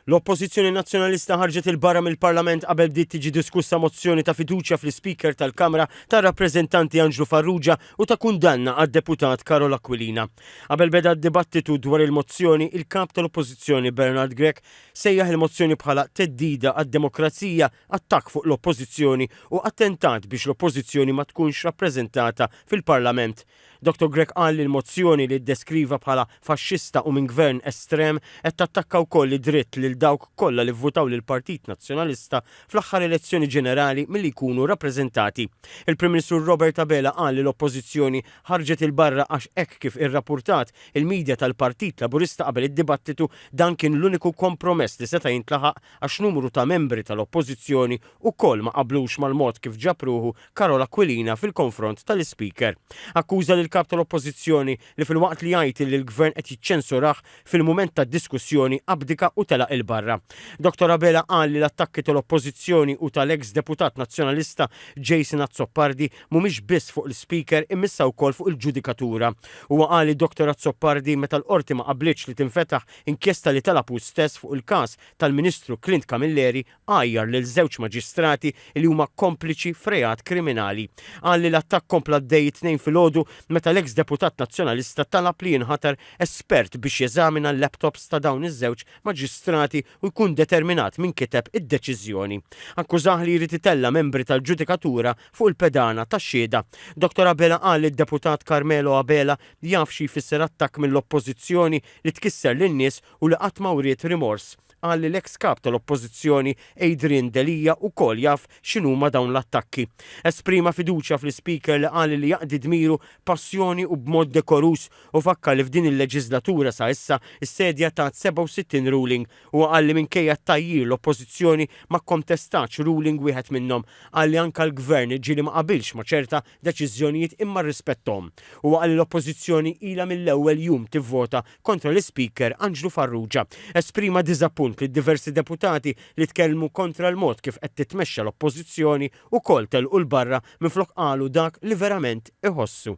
L-Oppożizzjoni Nazzjonalista ħarġet 'il barra mill-Parlament qabel bdiet tiġi diskussa mozzjoni ta' fiduċja fl-Ispeaker tal-Kamra tar-Rappreżentanti Anġlu Farrugia u ta' kundanna għad-Deputat Karol Aquilina. Qabel beda d-dibattitu dwar il-mozzjoni, il-Kap tal-Oppożizzjoni Bernard Grech sejjaħ il-mozzjoni bħala theddida għad-demokrazija, attakk fuq l-Oppożizzjoni u attentat biex l-Oppożizzjoni ma tkunx rappreżentata fil-Parlament. Dottor Grech qal li l-mozzjoni li ddeskriva bħala faxxista u minn Gvern estrem qed tattakka wkoll id-dritt lil dawk kollha li vvutaw lill-Partit Nazzjonalista fl-aħħar elezzjoni ġenerali milli jkunu rappreżentati. Il-Prim Ministru Robert Abela qal li l-Oppożizzjoni ħarġet 'il barra għax hekk kif irrappurtat il-media tal-Partit Laburista qabel id-dibattitu dan kien l-uniku kompromess li seta' jintlaħaq għax numru ta' membri tal-Oppożizzjoni wkoll ma qablux mal-mod kif ġab ruħu Karol Aquilina fil-konfront tal-Ispeaker. Akkuża lill-Kap tal-Oppożizzjoni li filwaqt li jgħid li l-Gvern qed jiċċensurah, fil-mument tad-diskussjoni abdika u telaq 'il barra. Dottor Abela qal li l-attakki tal-Oppożizzjoni u tal-eks Deputat Nazzjonalista Jason Azzopardi mhumiex biss fuq l-Ispeaker imma issa wkoll fuq il-ġudikatura. Huwa qal li Dottor Azzopardi meta l-Qorti ma qablitx li tinfetaħ inkjesta li talab hu stess fuq il-każ tal-Ministru Clint Camilleri għajjar lil żewġ maġistrati li huma kompliċi f'reat kriminali. Qal li l-attakk kompla għaddej it-Tnejn filgħodu meta l-eks deputat Nazzjonalista talab li jinħatar espert biex jeżamina l-laptops ta' dawn iż-żewġ maġistrati u jkun determinat min kiteb id-deċiżjoni. Akkużah li jrid itella' membri tal-ġudikatura fuq il-pedana ta' xhieda. Dottor Abela qal li d-deputat Carmelo Abela jaf xi jfisser attakk mill-Oppożizzjoni li tkisser lin-nies u li qatt ma wriet rimors Qal li l-eks Kap tal-Oppożizzjoni Adrian Delia wkoll jaf x'inhuma dawn l-attakki. Esprima fiduċja fl-Ispeaker li qal li jaqdi dmiru b'passjoni u b'mod dekoruż u fakkar li f'din il-leġiżlatura sa issa s-Sedja tat 67 ruling. Huwa qal li minkejja t-tgħajjir l-Oppożizzjoni ma kkontestatx ruling wieħed minnhom. Qal li anke l-Gvern ġieli ma qabilx ma ċerta deċiżjonijiet imma rrispettahom. Huwa qal li l-Oppożizzjoni ilha mill-ewwel jum tivvota kontra l-Ispeaker Anġlu Farrugia. Esprima diżappunt li diversi deputati li tkellmu kontra l-mod kif qed titmexxa l-Oppożizzjoni ukoll telqu 'l barra minflok qalu dak li verament iħossu.